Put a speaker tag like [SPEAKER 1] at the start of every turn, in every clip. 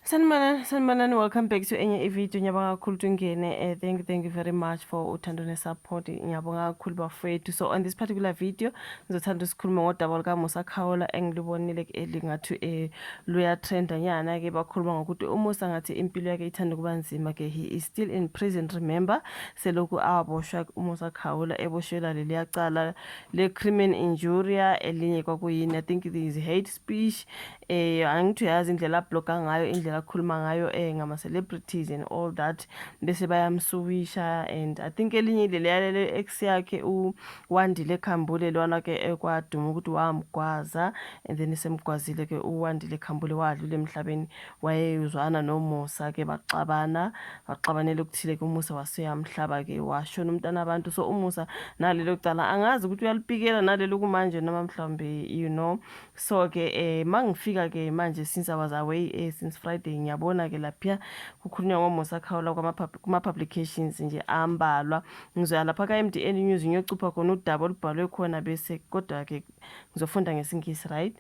[SPEAKER 1] sanibonani sanibonani welcome back to enye ivideo ngiyabonga kakhulu ukuthi ungene uh, thank you thank you very much for uthando nesupport ngiyabonga kakhulu bafowethu so on this particular video ngizothanda usikhuluma ngodaba lukamusa khawula engilubonile elingathi um eh, luyatrenda nyana-ke bakhuluma ngokuthi umusa ngathi impilo yakhe ithanda ukuba nzima-ke he is still in prison remember selokhu aboshwa umusa khawula eboshelwa leliya cala le-crimin injuria elinye kwakuyini i think is hate speech eh angithi uyazi indlela abloga ngayo indlela akhuluma ngayo eh ngama celebrities and all that bese bayamsuwisha and i think elinye ilele yalele ex yakhe u Wandile Khambule lona ke ekwaduma ukuthi wamgwaza and then semgwazile ke u Wandile Khambule wadlula emhlabeni wayeyuzwana noMusa ke baxabana baxabanele ukuthile ke uMusa waseyamhlaba ke washona umntana abantu so uMusa nalelo cala angazi ukuthi uyalipikela nalelo kumanje noma mhlawumbe you know so ke eh mangifika ke manje since i was away eh since friday ngiyabona ke lapha kukhulunywa ngomusa khawula kuma publications nje ambalwa ngizoya lapha ka MDN news ngiyocupha khona udaba olubhalwe khona bese kodwa ke ngizofunda ngesingisi right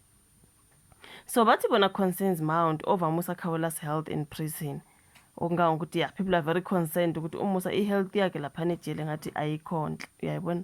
[SPEAKER 1] so bathi bona concerns mount over musa khawula's health in prison okungango ukuthi yeah people are very concerned ukuthi umusa i health yakhe lapha nejele ngathi ayikhonhle uyayibona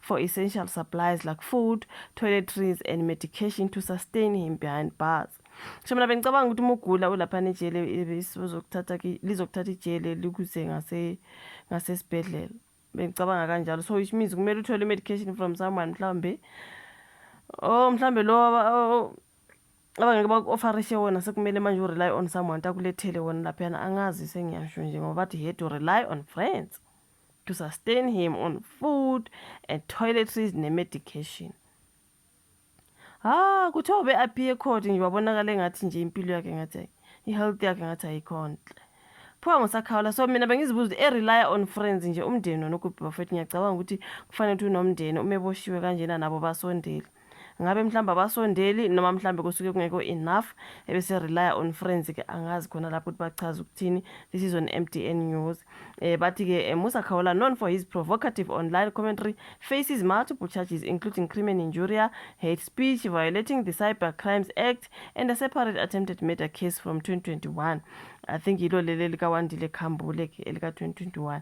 [SPEAKER 1] for essential supplies like food, toiletries and medication to sustain him behind bars. Ngisho mina bengicabanga ukuthi uma ugula ulaphana ejele lizokuthatha lizokuthatha ijele likuze ngase ngasesibhedlela. Bengicabanga kanjalo. So which means kumele uthole medication from someone mhlambe. Oh mhlambe lo abangeke baku-ofarishe wona sekumele manje u-rely on someone takulethele wona laphayana angazi sengiyasho nje ngoba bathi he to rely on friends to sustain him on food and toiletries ne-medication ha kuthiwa ube appear court nje wabonakala engathi nje impilo yakhe ngathi i-health yakhe ngathi ayikhonhle phuka ngosakhawula so mina bengizibuza ukuthi erelya on friends nje umndeni wona ukubhi bafethu ngiyacabanga ukuthi kufanele ukuthi unomndeni umeboshiwe kanjena nabo basondeli ngabe mhlawumbe abasondeli noma mhlawumbe kusuke kungekho enough ebese rely on friends ke angazi khona lapho ukuthi bachaza ukuthini this is on MDN news eh bathi ke eh, Musa Khawula known for his provocative online commentary faces multiple charges including crime and injuria hate speech violating the cyber crimes act and a separate attempted murder case from 2021 i think yilo leli likawandile khambule ke elika 2021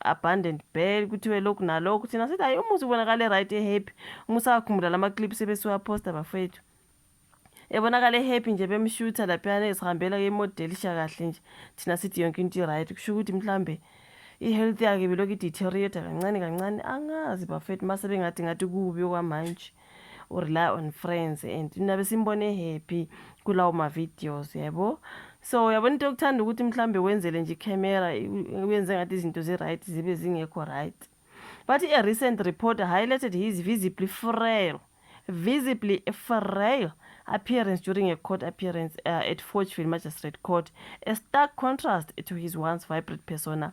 [SPEAKER 1] abandoned bed kuthiwe lokhu nalokhu thina sithi hayi umuzi ubonakale right ehappy uma usawakhumbula lama clips ebesiwaphosta bafethu ebonakala ehappy nje bemshutha laphiyana ezihambela yemodelisha kahle nje thina sithi yonke into i-right kusho ukuthi mhlawumbe i-health yakhe belokhu ideteriota kancane kancane angazi bafethu uma sebengathi ngathi kubi okwamanje u rely on friends and nabe simbone happy kulawo ma videos yabo so uyabona into yokuthanda ukuthi mhlambe wenzele nje camera uyenze ngathi izinto zi right zibe zingekho right but a recent report highlighted his visibly frail visibly frail appearance during a court appearance uh, at Forgeville Magistrate Court, a stark contrast to his once vibrant persona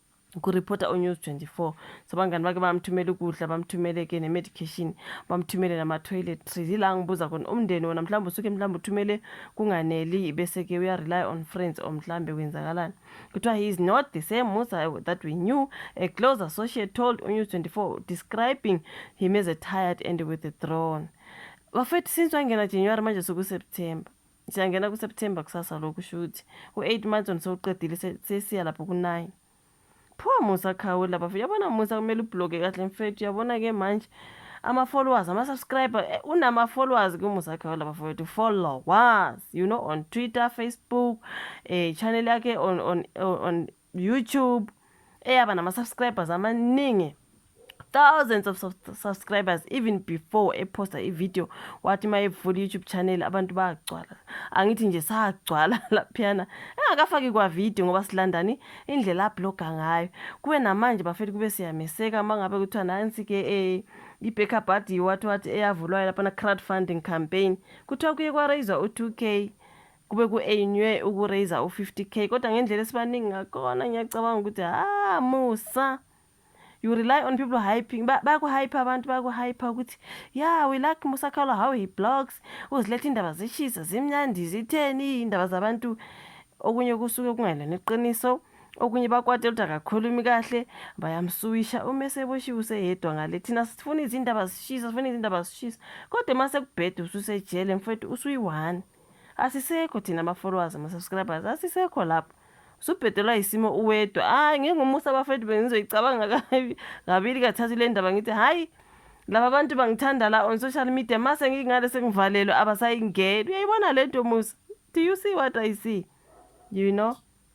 [SPEAKER 1] kuripota uNews 24 so abangani bake bamthumela ukudla bamthumele-ke ne-medication bamthumele nama-toiletries yila ngibuza khona umndeni wona mhlawumbe usuke mhlawumbe uthumele kunganeli bese-ke uya-rely on friends or mhlawumbe kwenzakalani kuthiwa he is not the same musa that we knew a close associate told unews 24 describing him as a tired and with a throne bafethu since wangena january manje sukuseptember siyangena kuseptember kusasa lokhu shuthi u-eight months on sewuqedile sesiya lapho ku-nine phuwa musa khawe laba yabona musa kumele ubhloke kahle mfethu yabona-ke manje ama-followers ama-subscriber eh, unama-followers kumusa khawe laba fowethu followers you know on twitter facebook eh, channel yakhe on, on, on, on YouTube eyaba nama subscribers amaningi thousands of subscribers even before eposta ivideo wathi uma evula i-youtube channel abantu bagcwala angithi nje sagcwala laphiyana engakafaki kwavideo ngoba silandani indlela abloga ngayo kube namanje bafethu kube siyameseka uma ngabe kuthiwa nansi-ke um eh, i-backup adi wathi wathi eyavulwayo laphana crowd funding campaign kuthiwa kuye kwarayizwa u-two k kube ku-ainywe uku-raiser u-50 k kodwa ngendlela esibaningi ngakona ngiyacabanga ukuthi ha musa you rely on people hyping bayakuhype abantu bayakuhype ukuthi ya we like musa khala how he blogs uziletha indaba zishisa zimnyandi zitheni indaba zabantu okunye kusuke kungelona iqiniso okunye bakwate ukuthi akakhulumi kahle bayamsuwisha uma eseboshiwe useyedwa ngale thina sifuna izindaba zishisa sifuna izindaba zishisa kodwa uma sekubheda ususejele mfowethu usuyi-one Asisekho thina ama followers ama subscribers asisekho lapho. Usubhedelwa isimo uwedwa. Hayi ngeke umusa abafethu bengizoyicabanga kabi kabili kathathu le ndaba ngithi hayi laba bantu bangithanda la on social media mase ngingale sengivalelwe abasayingeni. Uyayibona lento musa. Do you see what I see? You know?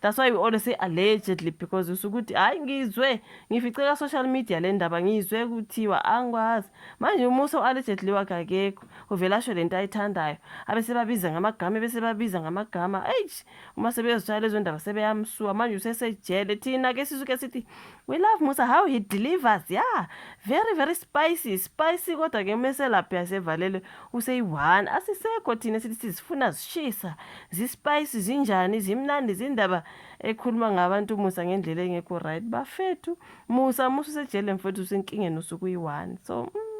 [SPEAKER 1] that's why we always say allegedly because usuke ukuthi hhayi ngizwe ngifice ka-social media le ndaba ngizwe kuthiwa angikwazi manje umusa u-allegedly wakhe akekho uvele asho le nto ayithandayo abesebabiza ngamagama ebesebabiza ngamagama eish uma sebezotshaya lezo ndaba sebeyamsuka manje usesejele thina ke sisuke sithi We love Musa how he delivers. Yeah. Very very spicy. Spicy kodwa ke meselaphi yasevalelwe useyi-one. Asisekho thina sithi sizifuna zishisa. Zi-spicy zinjani zimnandi zindaba ekhuluma ngabantu Musa ngendlela engekho right. Bafethu Musa Musa usejele mfethu usenkingeni usuku uyi-one. So mm.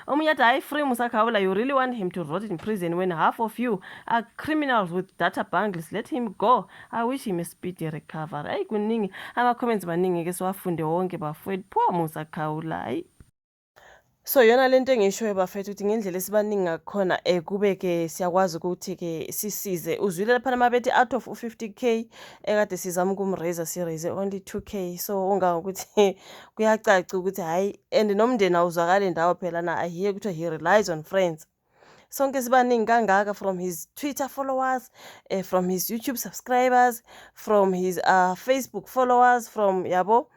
[SPEAKER 1] omunye athi hayi free musakhaula you really want him to rot in prison when half of you are criminals with data bangles let him go i wish him a speedy recovery hayi kuningi ama-comments maningi ke siwafunde wonke bafowethu pho musakhaula hayi so yona lento engishoyo bafethu ukuthi ngendlela esibaningi ngakhona um eh, kube-ke siyakwazi ukuthi-ke sisize uzwile laphana mabethi out of u-fifty k ekade sizama ukumraiser siraiser only two k so ungangokuthi kuyacaca ukuthi hhayi and nomndeni awuzwakali ndawo phela na i hear kuthiwa he relies on friends sonke sibaningi kangaka from his twitter followers uh, from his youtube subscribers from his uh, facebook followers from yabo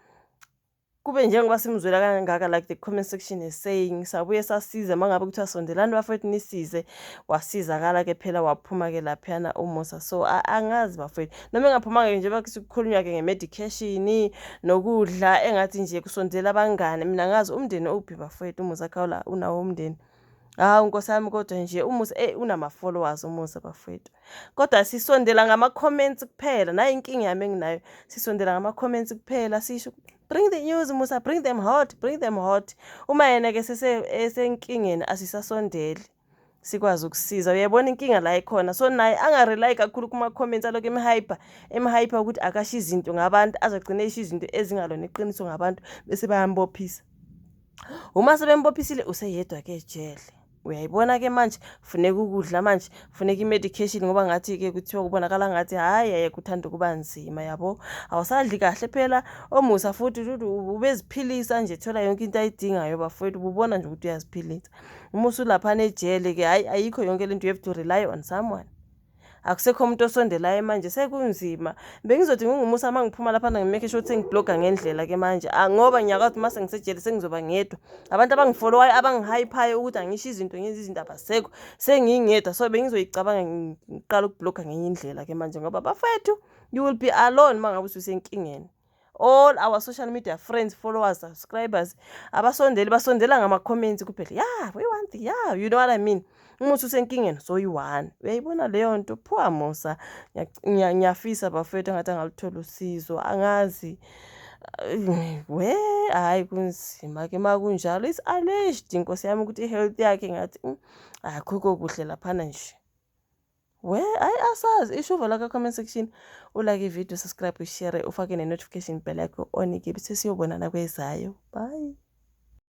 [SPEAKER 1] kube njengoba simzwela kangaka like the comment section is saying sabuye sasize uma ngabe kuthiwa sondelani bafowethu nisize wasizakala ke phela waphuma ke laphiyana umusa so angazi bafowethu noma engaphumanga-ke njengoba kukhulunywa-ke nge-medication nokudla engathi nje kusondela abangane mina ngazi umndeni owuphi bafowethu umusa khawula unawo umndeni hawu nkosi yami kodwa nje umusa eyi unama-followers umusa bafowethu kodwa sisondela ngama-comments kuphela nayo inkinga yami enginayo sisondela ngama-comments kuphela sisho bring the news musa bring them hot bring them hot uma yena-ke esenkingeni asisasondeli sikwazi ukusiza uyayibona inkinga la ikhona so naye angarely kakhulu kuma-comments alokhu emhyper emhyper ukuthi akasho izinto ngabantu azogcine esho izinto ezingalona iqiniso ngabantu bese bayambophisa uma sebembophisile useyedwa ke ejele uyayibona ke manje funeka ukudla manje funeka i-medication ngoba ngathi ke kuthiwa kubonakala ngathi hhayi yayeke uthanda ukuba nzima yabo awusadli kahle phela omusa futhi ubeziphilisa nje thola yonke into ayidingayo bafowethu ububona nje ukuthi uyaziphilisa uma usulaphana ejele ke hayi ayikho yonke lento you have to rely on someone akusekho umuntu osondelayo manje sekunzima bengizothi ngingumusa uma ngiphuma lapha ngimake sure ukuthi ngibloga ngendlela ke manje ah, ngoba ngiyakwazi uma sengisejele sengizoba ngedwa abantu abangifolowayo abangihayiphayo ukuthi angisho izinto ngenza izinto abasekho sengingedwa so bengizoyicabanga ngiqala ukubloga ngenye indlela ke manje ngoba bafethu you will be alone uma ngabe ususenkingeni all our social media friends followers subscribers abasondeli basondela ngama-comments kuphela ya yeah, we want ya yeah, you know what i mean umuthi usenkingeni soyi-one uyayibona leyo nto phuwa musa ngiyafisa bafethu angathi angaluthola usizo angazi we hhayi kunzima ke uma kunjalo is alleged inkosi yami ukuthi i-health yakhe ngathi mm, akhukho kuhle laphana nje Where? Hayi asazi isho uvala ka comment section ulike ivideo subscribe ushare ufake ne-notification bell yakho onike bese siyobonana kwezayo bye